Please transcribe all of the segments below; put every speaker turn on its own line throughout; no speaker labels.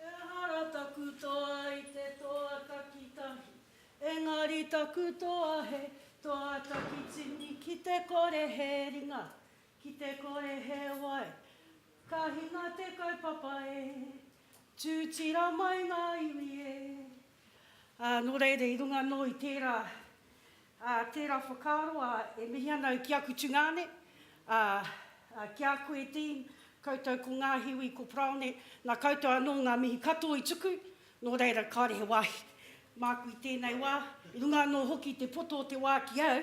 Ehara taku toa i te toa takitahi, engari taku toa he toa takitini ki te kore he ringa, ki te kore he wai. Ka hinga te kaupapa e, tūtira mai ngā iwi e. Ā, nō reira, i runga anō i tērā, ā, tērā whakaaro, ā, e mihi ana au ki aku tungāne, ā, ā, ki a koe, Dean, koutou ko Ngāhiwi, ko Parāone, nā koutou anō ngā mihi katoa i tuku, nō reira, kāore he wāhi māku i tēnei wā, i runga anō hoki i te poto o te wā ki au,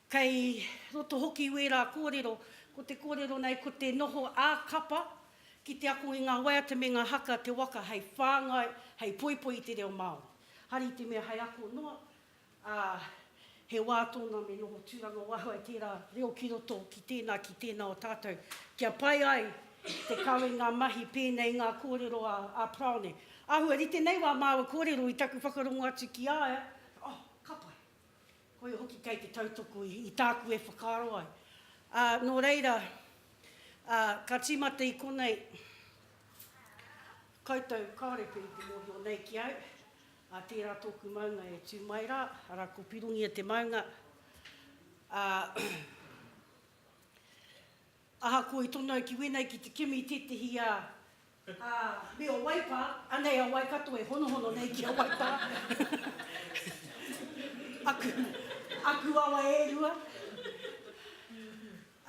Kei roto hoki i wērā kōrero, ko te kōrero nei ko te noho ā-kapa ki te ako i ngā waiata me ngā haka te waka hei whāngai, hei poipoi i te reo Māori. Hari i te mea hei ako noa, ā, he wā tōna me noho tūranga waho ai tērā reo ki roto ki tēnā, ki tēnā o tātou, kia pai ai te kawe ngā mahi pēnei i ngā kōrero a Parāone. Āhua rite nei wā māua kōrero i taku whakarongo atu ki a ia, oh, ka pai. Koia hoki kei te tautoko i tāku e whakaaro ai. Ā, nō reira, ā, ka tīmata i konei koutou kāore pea i te mōhio nei ki au, ā, tērā tōku maunga e tū mai rā, arā, ko Pirongia te maunga, ā, Ahakoa i tono ai ki wēnei ki te kimi i tētehi a, a, me o Waipa, anei a Waikato e honohono nei ki a Waipa. Aku, aku awa e rua,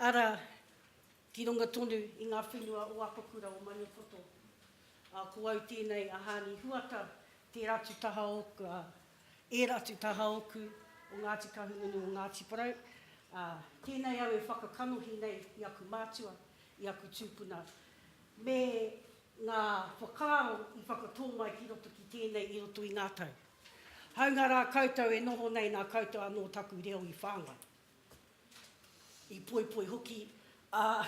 ara, ki runga tonu i ngā whenua o Apakura, o Maniapoto. A, ko au tēnei a Hāni Huata, tērā tu taha ōku, a, Ērā te taha oku o Ngāti Kahungunu o Ngāti Porou, ā, tēnei au e whakakanohi nei i aku mātua, i aku tūpuna, me ngā whakaaro i whakatō mai ki roto ki tēnei i roto i ngā tau. Hāunga rā koutou e noho nei nā koutou anō taku reo i whāngai. i poipoi hoki, ā,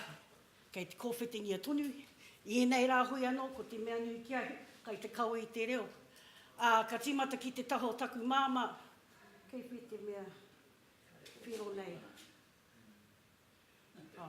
kei te kōwhitingia tonu. I ēnei rā hui anō, ko te mea nui ki ahau, kai te kawe i te reo. Ā, ka tīmata ki te taha o taku māmā, kei whē te mea whero nei? Ā.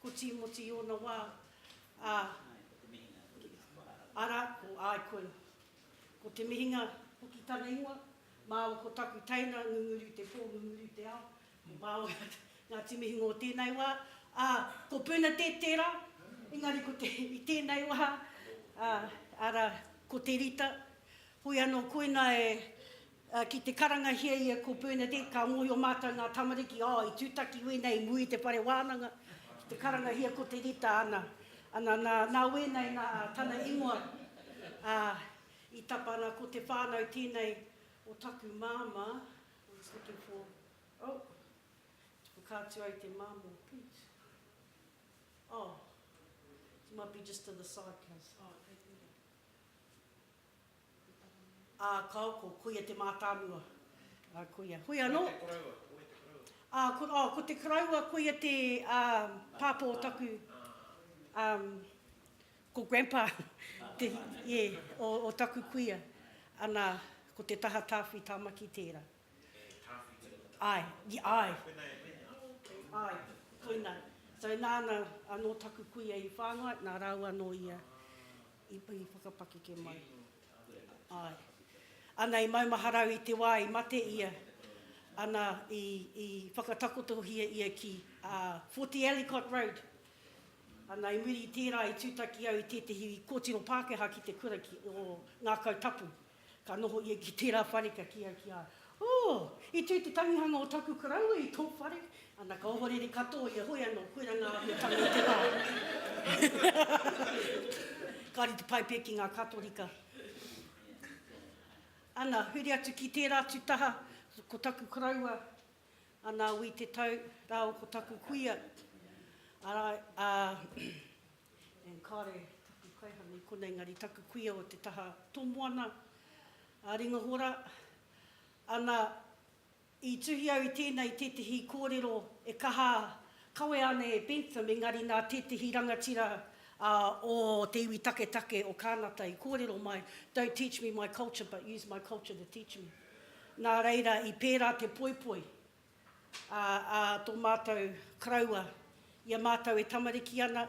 Ko Tīmoti i ōna wā, ā, arā, ko Aikoia. Ko Te Mihinga hoki tana ingoa. Māua ko taku teina, Ngunguri i te pō, Ngunguri i te ao. Ko māua ngā, ngā Timihinga o tēnei wā. Ā, ko Bernadette tērā, engari ko te, i tēnei wā, ā, arā, ko te Rita. Hoi anō, koinā e. Ki te karangahia ia ko Bernadette ka mōhio mātou ngā tamariki oh i tūtaki wēnei i muri i te whare wānanga ki te karangahia ko te Rita ana ana nā nā wēnei nā tana ingoa ā i tapa ana ko te whānau tēnei o taku māmā I was looking for oh te whakaatu ai te māmō please oh you might be just to the side please oh thank you. Ā, kāo, ko Kuia te mātāmua. Ā, Kuia, Hoi anō. Hoi te koroua, Hoi te koroua. Ā, ko, ā, ko te koroua, Kuia te, ā, pāpā o taku, ā, ko Grandpa, te, ē, o, o taku kuia. Ana, ko te taha Tāwhi Tāmaki tērā. He Tāwhi tērā tātou. Āe, i, āe. Ā, koinā e mea, ā, okay. Āe, koinā. So nāna anō taku kuia i whāngai, nā rāua anō ia, I whakapakeke mai. Āe. Ana i maumaharau i te wā i mate ia, ana i, i whakatakotohia ia ki, ā, Forty Ellicott Road. Ana i muri i tērā i tūtaki au i tētehi kōtiro Pākehā ki te kura ki, o Ngākau Tapu. Ka noho ia ki tērā whare kia kī ai ki a ia, Oh! I tū te tangihanga o taku karaua i tō whare. Ana ka ohorere katoa ia, Hoi anō, koirā ngā āhuatanga o te wā. Kāore te pai pea ki ngā Katorika. Ana, huri atu ki tērā atu taha, ko taku karaua, anā, wī te tau, rāua ko taku kuia, arā, ā, And kāre taku kaihanga i konei engari taku kuia o te taha tomoana a Ringahora. Ana, i tuhi au i tēnei i tētehi kōrero e kaha kawea ana e Bentham engari nā tētehi rangatira o te iwi taketake o Kānata i kōrero mai, Don't teach me my culture but use my culture to teach me. Nā reira i pērā te poipoi. a tō mātou Karaua i a mātou e tamariki ana,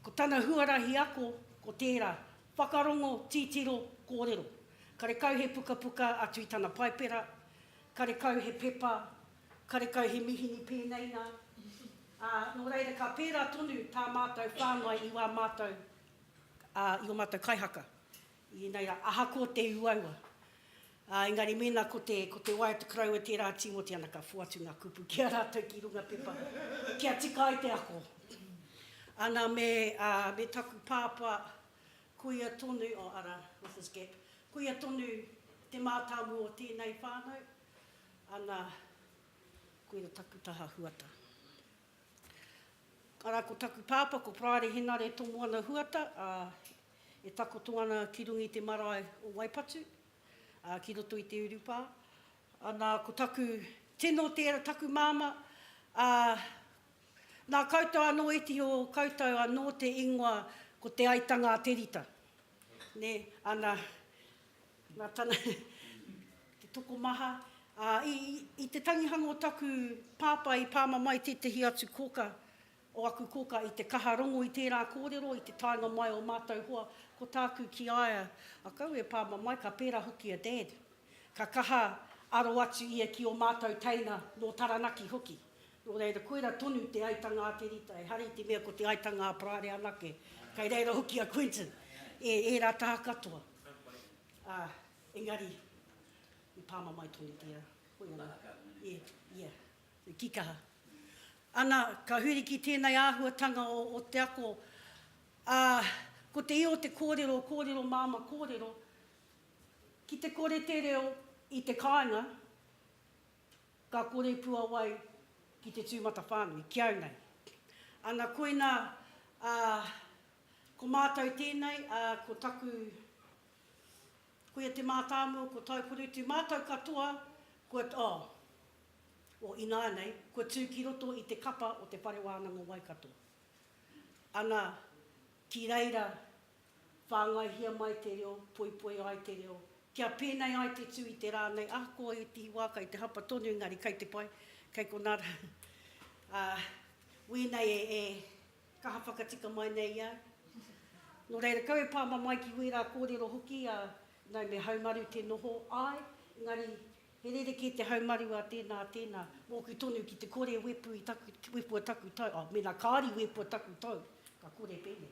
ko tana huarahi ako ko tērā, whakarongo, titiro, kōrero. Karekau he pukapuka atu i tana paipera, karekau he pepa, karekau he mihini pēnei nā, ā, nō reira ka pērā tonu tā mātou whāngai i wā mātou, i ō mātou kaihaka. Inai rā, ahakoa te uaua, ā, engari mēnā ko te, ko te wai o te karaua e tērā tīmoti ana ka whoatu ngā kupu ki a rātou ki runga pepa, kia tika ai te ako. Ana me, ā, me taku pāpā, koia tonu, oh, ara, with his gap, koia tonu te mātāmua o tēnei whānau, ana, koira taku taha Huata. Ara, ko taku pāpā, ko Praere Henare Tomoana Huata, ā, E takoto ana ki runga i te marae o Waipatu, ā, ki roto i te urupā. Nā, ko taku tino tērā, taku māmā, ā, nā koutou anō e tihi o koutou anō te ingoa ko Te Aitanga-a-Terita. Nē, ana, nā tana te tokomaha, ā, i, i te tangihanga o taku pāpā i pāmamae tētehi atu kōka o aku koka i te kaha rongo i tērā kōrero i te taenga mai o mātou hoa ko tāku ki a ia a kau e pā mamae ka pērā hoki a Dad ka kaha aro atu ia ki o mātou teina nō Taranaki hoki nō reira koira tonu te aitanga a te Rita ehara i te mea ko te aitanga a Parare anake kei reira hoki a Quentin e ērā taha katoa ā engari i pā mamae tonu tērā hoi anō e ia. Kikaha. Ana, ka huri ki tēnei āhuatanga o te ako, ā, ko te io te kōrero, kōrero māmā kōrero, ki te kore te reo i te kāinga, ka kore puawai ki te tūmatawhānui, ki au nei. Ana, koina, ā, ko mātou tēnei, ā, ko taku, koia te mātāmua, ko Tauporitu, mātou katoa, kua, oh, o ināianei kua tū ki roto i te kapa o Te Whare Wānanga o Waikato. Ana ki reira whāngaihia mai te reo, poipoi ai te reo, kia pēnei ai te tū i te rā nei, ahakoa i te wā kai te hapa tonu engari kai te pai, kai konā rā. Ā, wēnei e kaha whakatika mai nei i au. Nō reira, kau e pāmamae ki wērā kōrero hoki, ā, nau me haumaru te noho, āe, engari He rerekē te haumaru a tēnā, a tēnā, mōku tonu ki te kore e wepu i taku, wepua taku tau, oh, mēnā kāore i wepua taku tau, ka kore pēnei.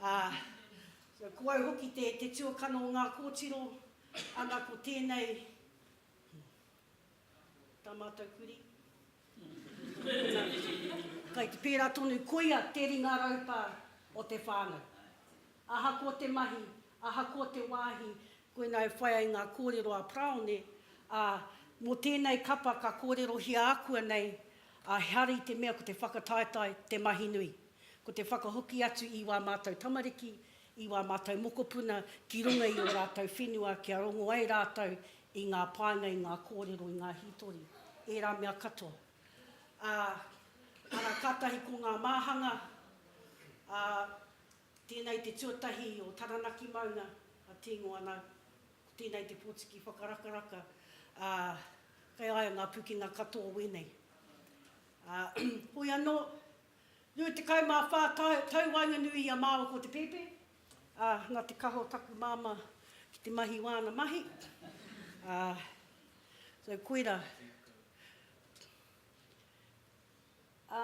Ā, so, ko au hoki te, te tuakana o ngā kōtiro, ana ko tēnei, tā mātou kurī, kai te pērā tonu, koia te ringa raupā o te whānau. Ahakoa te mahi, ahakoa te wāhi, Koinā e whai ai ngā kōrero a Praone, ā, mō tēnei kapa ka kōrerohia akua nei a Hari te mea ko te whakataetae te mahi nui. Ko te whakahoki atu i wā mātou tamariki, i wā mātou mokopuna ki runga i ō rātou whenua kia rongo ai rātou i ngā painga, i ngā kōrero, i ngā hītori, ērā mea katoa. Ā, ana kātahi ko ngā māhanga, ā, Tēnei te tuatahi o Taranaki Maunga a Tīngo anō. Ko tēnei te pōtiki whakarakaraka, ā, kei a ia ngā pukenga katoa wēnei. Ā, hoi anō, 24 tau, tau waenganui i a māua ko Te Pepe, ā, nā te kaha o taku māmā ki te mahi wāna mahi, ā, so koirā. Ā.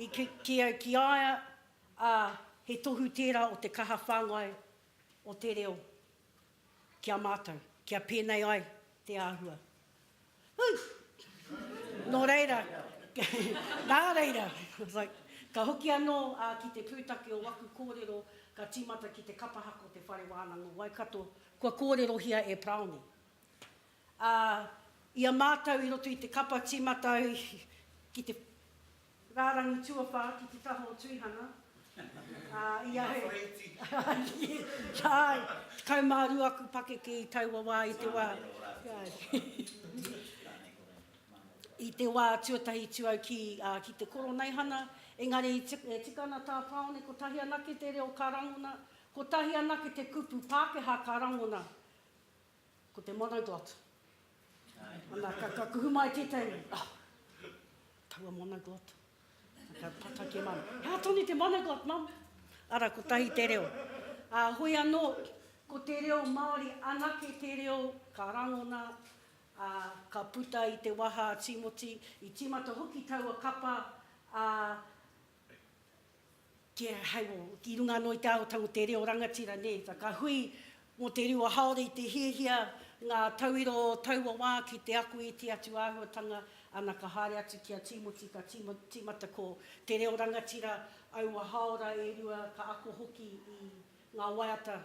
I kite au ki a ia, ā, he tohu tērā o te kaha whāngai o te reo ki a mātou, kia pēnei ai te āhua. Hū! Nō reira, nā reira, ka hoki anō a ki te pūtake o waku kōrero ka tīmata ki te kapahaka o te Whare Wānanga o Waikato, kua kōrerohia e Paraone. Ā, i a mātou i roto i te kapa tīmata au ki te rārangi tuawhā ki te taha o Tuihana, ā, i a Hei, āe, tekau mā rua aku pakeke i taua wā i te wā, i te wā tuatahi tū au ki, ā, ki te Koroneihana, engari i tika, e tika ana tā Tāone kotahi anake te reo ka rangona, kotahi anake te kupu Pākehā ka rangona. Ko te mana God. Ana, ka, ka kuhu mai tētahi, oh, taua mana God. Ka tata ki mam, hea tonu te mana God, mam. Ara, ko tahi te reo. Uh, hoi anō, ko te reo Māori, anake te reo, ka rangona, uh, ka puta i te waha a Timoti, i tīmata hoki taua kapa, uh, Ki a hei o, i runga anō i te aotang o te reo rangatira, nē, whakahui mō te rua haore i te hiahia ngā tauiro o taua wā ki te ako i te atu āhuatanga, ana ka haere atu ki a Tīmoti ka tīmata ko te reo rangatira aua hāora e rua ka ako hoki i ngā waiata,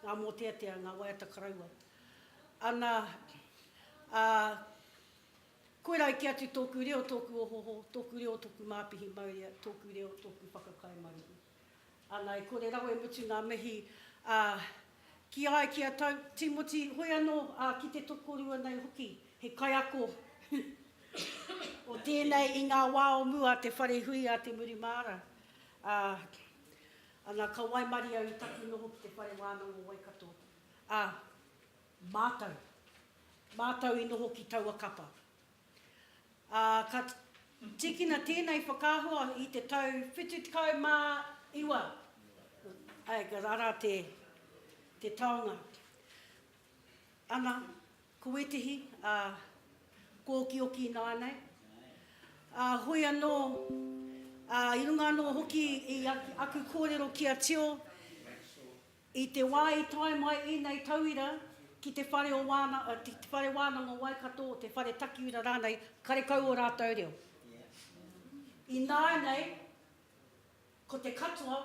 ngā mōteatea, ngā waiata karaua. Ana, ā, Koirā kē atu tōku reo, tōku ohoho, tōku reo, tōku māpihi maurea, tōku reo, tōku whakakai maruhi. Ana, e kore rawa e mutu ngā mihi, ā, ki a, ki a tau, Tīmoti, hoi anō, ā, ki te tokorua nei hoki, he kaiako o tēnei i ngā wā o mua a te whare hui a Te Muri Māra, ā, ana, ka waimarie au i taku noho ki te Whare Wānanga o Waikato, ā, Mātou. Mātou i noho ki taua kapa. Ā, ka tīkina tēnei whakaahua i te tau 79. Āe, ka rara te, te taonga. Ana, ko wētehi, ā, kōkioki ināianei. Ā, hoi anō, ā, i runga anō hoki i aku kōrero ki a Tio, I te wā i tae mai ēnei tauira ki te whare o Wāna, ki te whare wānanga o Waikato, te whare takiura rānei, karekau ō rātou reo. Ināianei, ko te katoa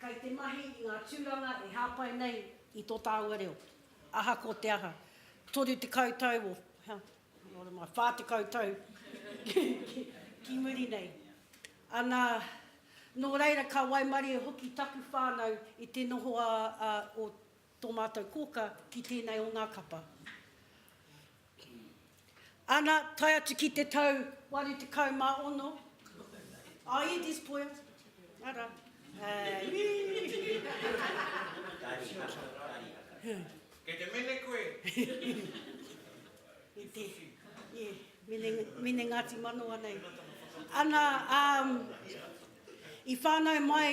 kei te mahi i ngā tūranga e hāpai nei i tō tāua reo, ahakoa te aha. Toru tekau tau o. Nō reira, 40 tau ki muri nei. Ana, nō reira, ka waimarie hoki taku whānau i te noho o tō mātou kōka ki tēnei o ngā kapa. Ana, tae atu ki te tau 86, a Edis Poia, ara, ī! Kei te mene koe? Kei te, yeah, mene, mene Ngāti Manawa nei. Ana, um, i whānau mai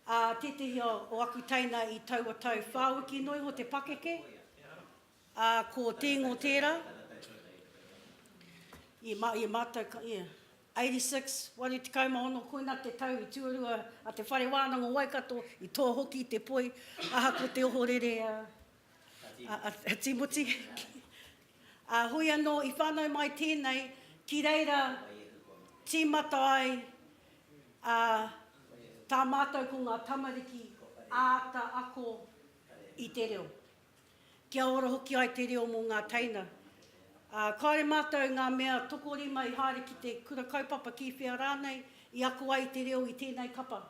a uh, tētehi o, o aku teina i taua tau whāwiki noa iho te pakeke, a uh, ko tēngo tērā, i, ma, i mātou, yeah, 86, waru tekau ma ono Koina te tau i tuarua a te Whare Wānanga o Waikato i tō hoki i te poi ahako te ohorere a a Timoti a hoi anō i whanau mai tēnei ki reira tīmata ai a tā mātou ko ngā tamariki āta ako i te reo. Kia ora hoki ai te reo mō ngā teina. Ā, kāore mātou ngā mea tokorima i haere ki te kura kaupapa ki whea rānei i ako ai te reo i tēnei kapa.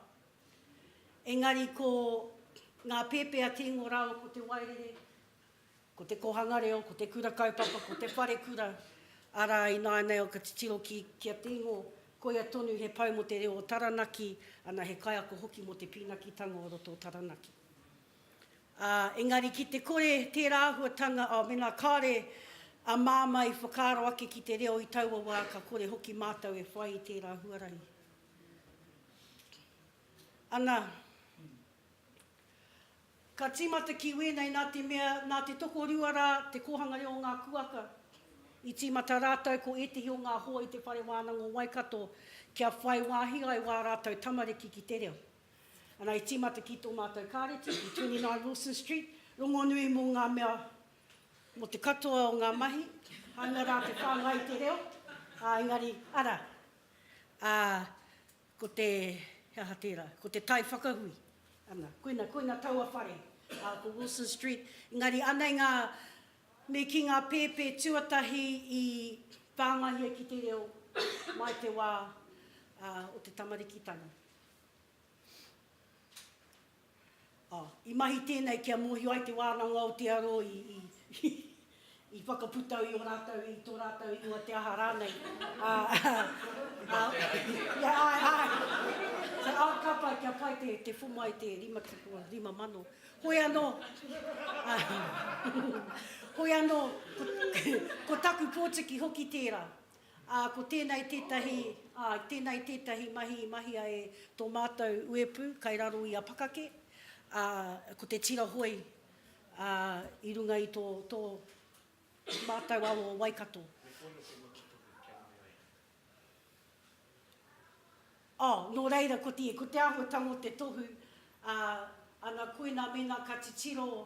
Engari ko ngā pēpi a Tīngo rāua ko Te Wairere, ko Te Kōhanga Reo, ko Te Kura Kaupapa, ko Te Wharekura, arā, ināianei au ka titiro ki, ki a Tīngo, koia tonu he pou mō te reo o Taranaki, ana, he kaiako hoki mō te pīnakitanga o roto o Taranaki. Ā, engari ki te kore tērā āhuatanga, ā, mēnā kāore a Māmā i whakaaro ake ki te reo i taua wā, ka kore hoki mātou e whai i tērā huarahi. Ana, ka tīmata ki wēnei nā te mea, nā te tokorua rā te Kōhanga Reo o Ngā Kūaka, i tīmata rātou ko ētehi o ngā hoa i te Whare Wānanga o Waikato kia whai wāhi ai wā rātou tamariki ki te reo. Ana i tīmata ki tō mātou kāreti i 29 Wilson Street, rongonui mō ngā mea, mō te katoa o ngā mahi, hāunga rā te whāngai i te reo, ā, engari, arā, ā, ko te, he aha tērā, ko te tai whakahui, ana, koina, koina taua whare, ā, ko Wilson Street, engari anei ngā, me kī ngā pēpē tuatahi i whāngaihia ki te reo mai te wā, ā, o te tamarikitanga. I mahi tēnei kia mōhio ai te wānanga o Aotearo i whakaputau i o rātou, i tō rātou ingoa te aha rānei. Āe, āe, ka pai kia pai te whoma i te 55,000. Hoi anō, hoi anō, ko taku pōtiki hoki tērā. Ā, ko tēnei tētahi, āe, tēnei tētahi mahi i mahia e tō mātou uepū kai raro i a Pakake, ā, ko te Tirahoi, ā, i runga i tō, tō mātou awa o Waikato. Me pono te motu tuku kia mau ai. Ā, nō reira ko te, ko te āhuatanga o te tohu, ā, ana koina mēnā ka titiro,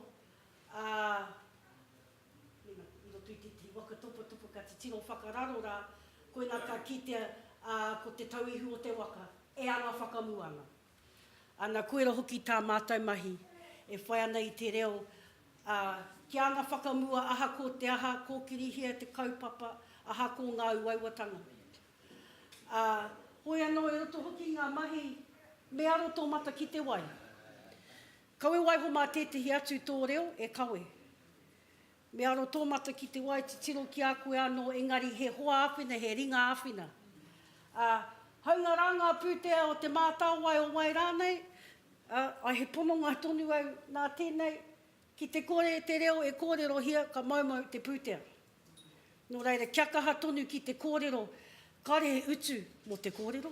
ā, i roto i tētahi waka topatopa ka titiro whakararo rā, koinā ka kitea, ā, ko te tauihu o te waka e anga whakamua ana. Ana, koira hoki tā mātou mahi e whai ana i te reo, ā, kia anga whakamua aha ko te aha, kōkirihia te kaupapa, aha ko ngā uauatanga. Ā, hoi anō i roto hoki i ngā mahi, me aro tō mata ki te wai. Kawe waiho mā tētehi atu tō reo e kawe. Me aro tō mata ki te wai titiro ki a koe anō engari he hoa āwhina, he ringa āwhina. Ā, hāunga rā ngā pūtea o te mātāwai o wai rānei, ā, he pononga tonu au nā tēnei, ki te kore te reo e kōrerohia ka moumou te pūtea. Nō reira, kia kaha tonu ki te kōrero kāre he utu mō te kōrero.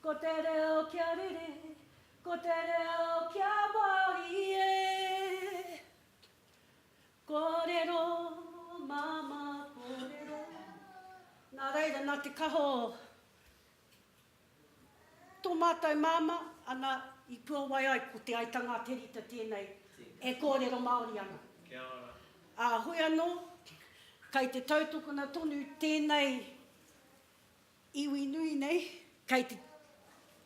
Ko te reo kia rere, ko te reo kia Māori e Kōrero, māmā kōrero Nā reira, nā te kaha o tō mātou māmā, ana, i puawai ai ko Te Aitanga-a-Terita tēnei e kōrero Māori ana. Kia ora. Ā, hoi anō, kei te tautokona tonu tēnei Iwi nui nei, kei te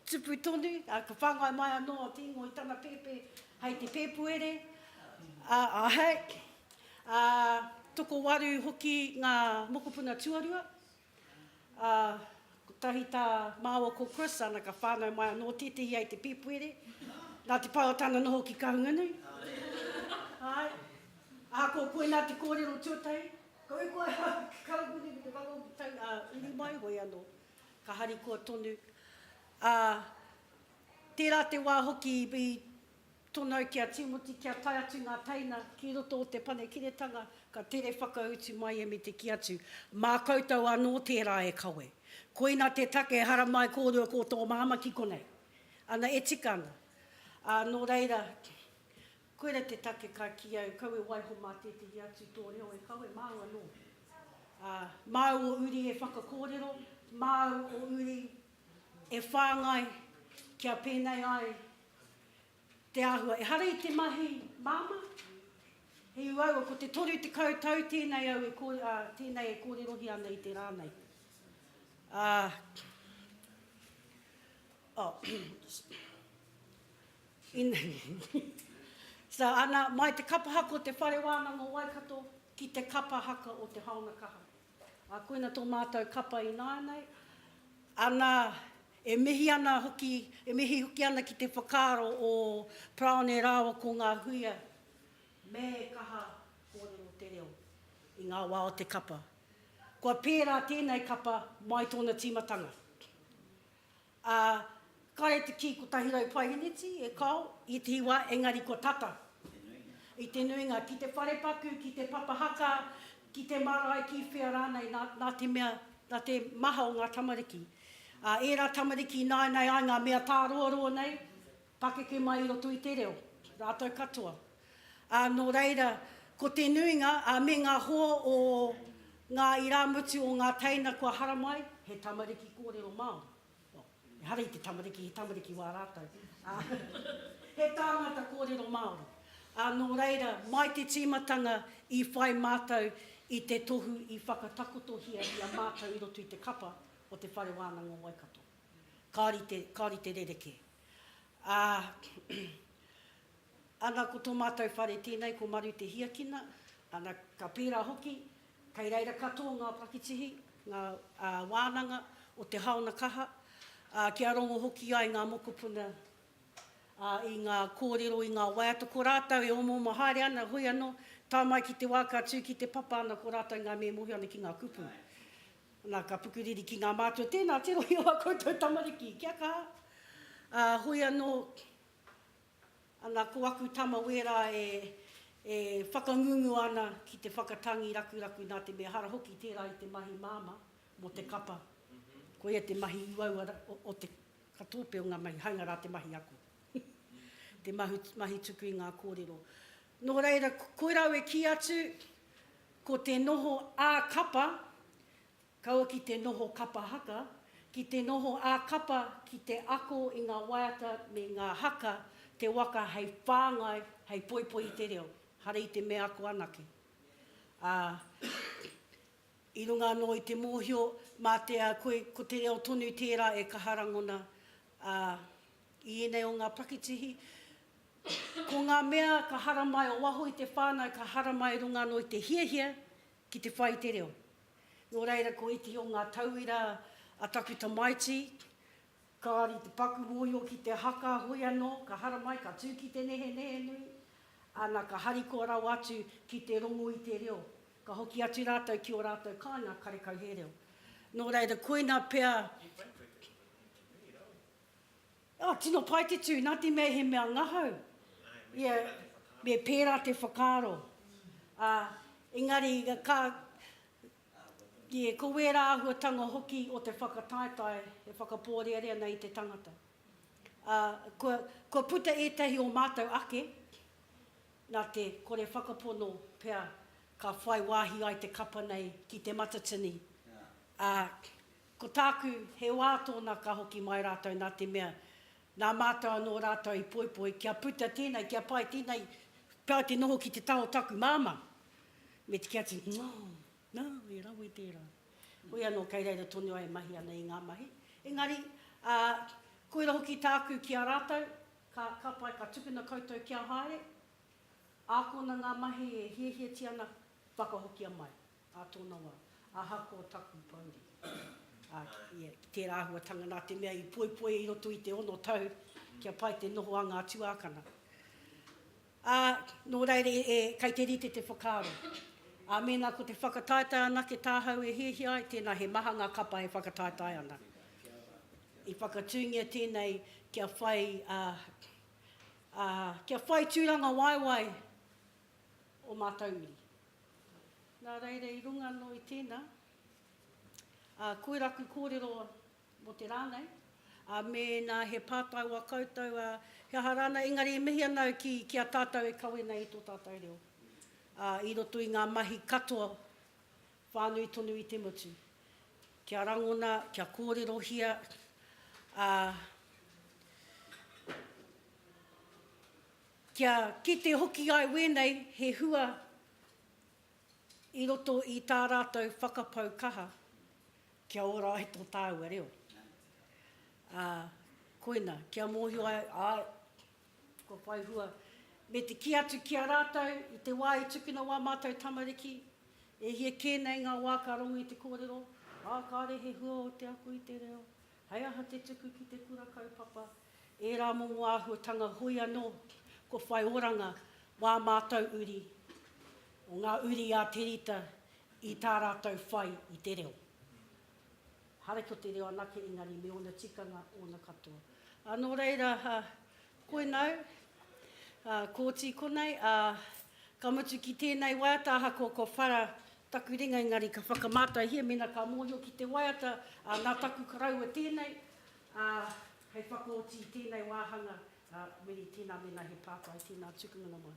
tupu tonu, ka whāngai mai anō a Te Ingoa i tana pēpē hei te Pēpuere, āhei, ā, tokowaru hoki ngā mokopuna tuarua, ā, kotahi tā māua ko Chris, ana ka whānau mai anō tētehi hei te Pēpuere, nā te pai o tana noho ki Kahungunui, āe, ahakoa koinā te kōrero tuatahi, Koi koe ha kau muni me te whanga utu tau a uru mai hoi ano ka harikoa tonu a tera te wa hoki i tonau ki a Timoti kia tae atu nga teina ki roto o te panekiretanga ka tere whakautu mai e me te ki atu ma koutou ano tera e kawe koina te take e haramai korua ko to mama ki konei ana e tika ana a no reira Koira te take ka kī au, kau e waiho mā tētehi atu tō reo e kawe, māu anō. Ā, māu o uri e whakakōrero, māu o uri e whāngai kia pēnei ai te āhua. Ehara i te mahi māmā, he uaua, ko te 30 tau tēnei au e kōre, ā, tēnei e kōrerohia ana i te rā nei. Ā. Ana, mai te kapa haka o te Whare Wānanga o Waikato ki te kapa haka o te Haona Kaha. A, koina tō mātou kapa ināianei. Ana, e mihi ana hoki, e mihi hoki ana ki te whakaaro o Parone rāua ko ngā huia me kaha kōrero te reo i ngā wā o te kapa. Kua pērā tēnei kapa mai tōna tīmatanga. Ā, kāre te kī kotahi rau paihiniti e kao i te iwa, engari kua tata. I te nuinga, ki te wharepaku, ki te papa haka, ki te marae, ki whea rānei, nā, nā te mea, nā te maha o ngā tamariki. Ā, ērā tamariki i nāianei ai ngā mea tāroaroa nei, Pakeke mai i roto i te reo, rātou katoa. Ā, nō reira, ko te nuinga, ā, me ngā hoa o ngā irāmutu o ngā teina kua haramai, he tamariki kōrero Māori. Well, ehara i te tamariki, he tamariki wā rātou. Ā, he tāngata kōrero Māori. Ā, nō reira, mai te tīmatanga i whai mātou i te tohu i whakatakotohia i a mātou i roto i te kapa o te Whare Wānanga o Waikato. Kāore i te, kāore i te rerekē. Ā, ana ko tō mātou whare tēnei ko Maru Te Hiakina, ana ka pērā hoki, kei reira katoa ngā pakitihi, ngā wānanga o te haona kaha, ā, kia rongo hoki ai ngā mokopuna i ngā kōrero, i ngā waiata, ko rātou e omaoma haere ana, hoi anō, tae mai ki te wā ka tū ki te papa ana ko rātou ngā mea e mōhio ana ki ngā kupu. Nā, ka pukuriri ki ngā mātua, Tēnā, te rohe o ā koutou tamariki, kia kaha. Ā, hoi anō, Ana, ko aku tama wērā e, e whakangungu ana ki te whakatangi rakuraku nā te mea hara hoki tērā i te mahi māmā mō te kapa. Koia te mahi uaua o, o te, ka tōpe o ngā mahi, hainga rā te mahi ako. te mahu, mahi tuku i ngā kōrero. Nō reira, koirau e kī atu, Ko te noho ā-kapa kaua ki te noho kapa haka, ki te noho ā-kapa ki te ako i ngā waiata me ngā haka te waka hei whāngai, hei poipoi i te reo, hara i te mea ako anake. Ā, i runga anō i te mōhio, mā te, koe, ko te reo tonu tērā e kaha rangona, ā, I ēnei o ngā pakitihi, ko ngā mea ka haramai o waho i te whānau ka haramai i runga anō i te hiahia ki te whai i te reo. Nō reira, ko ētehi o ngā tauira a taku tamaiti, kāore i te paku mōhio ki te haka, hoi anō, ka haramai, ka tū ki te nehenehe nui, ana, ka harikoa rawa atu ki te rongo i te reo, ka hoki atu rātou ki ō rātou kāinga karekau hē reo. Nō reira, koina pea, Oh, tino pai te tu, na te mea he mea ngahau, ia, me pera te whakaaro. Ah, engari, ka, yeah, ko wera ahuatanga hoki o te whakataetae e whakaporeare ana i te tangata. Ah, kua, kua puta etahi o matou ake, na te kore whakapono pea ka whai wahi ai te kapa nei ki te matatini, ah, Ko tāku, he wā tōna ka hoki mai rātou nā te mea, nā mātou anō rātou i poipoi kia puta tēnei, kia pai tēnei, pai te noho ki te taha o taku māmā. Me te kia tini, Nā, nā, he rawe tērā. Hoi anō kei reira tonu a e mahi ana i ngā mahi. Engari, ā, koira hoki tāku ki a rātou, ka, ka pai, ka tukuna koutou kia haere, ākona ngā mahi e hiahiatia ana, whakahokia mai. Ā tōna wā, ahakoa taku pouri, ā, ia, ki tērā āhuatanga nā te mea i poipoia i roto i te ono tau kia pai te noho a ngā tuākana. Ā, nō reira e, kei te rite te whakaaro, ā, mēnā ko te whakataetae anake tāhau e hiahia ai, tēnā he maha ngā kapa e whakataetae ana. I whakatūngia tēnei kia whai, ā, ā, kia whai tūrangawaewae ō mātou uri. Nā reira, i runga anō i tēnā, ā, koe raku kōrero mō te rā nei, ā, mēnā he pātai wā koutou, ā, he aha rānei, engari e mihi ana au ki, ki a tātou e kawe nei i tō tātou reo, ā, i roto i ngā mahi katoa, whānui tonu i te motu, kia rangona, kia kōrerohia, ā, Kia kite hoki ai wēnei he hua i roto i tā rātou whakapau kaha kia ora ai tō tāua reo. Ā, koina, kia mōhio ai, āe, kua whai hua, me te kī atu ki a rātou i te wā i tukuna wā mātou tamariki, e hia kē nei ngā wā ka rongo i te kōrero, ā, kāre he hua o te ako i te reo, He aha te tuku ki te kura kaupapa? Ērā mō ngō āhuatanga hoi anō kua whai oranga wā mātou uri, o ngā uri a Te Rita i tā rātou whai i te reo. Hara ko te reo anake engari me ōna tikanga, ōna katoa. Nō reira, Koinau, ā, Kōti konei, ā, ka mutu ki tēnei waiata ahakoa kua whara taku ringa engari ka whakamātaihia mēnā ka mōhio ki te waiata, ā, nā taku karaua tēnei, ā, hei whakaoti i tēnei wāhanga, ā, meri tēnā mēnā he pātai, tēnā tukunga namā.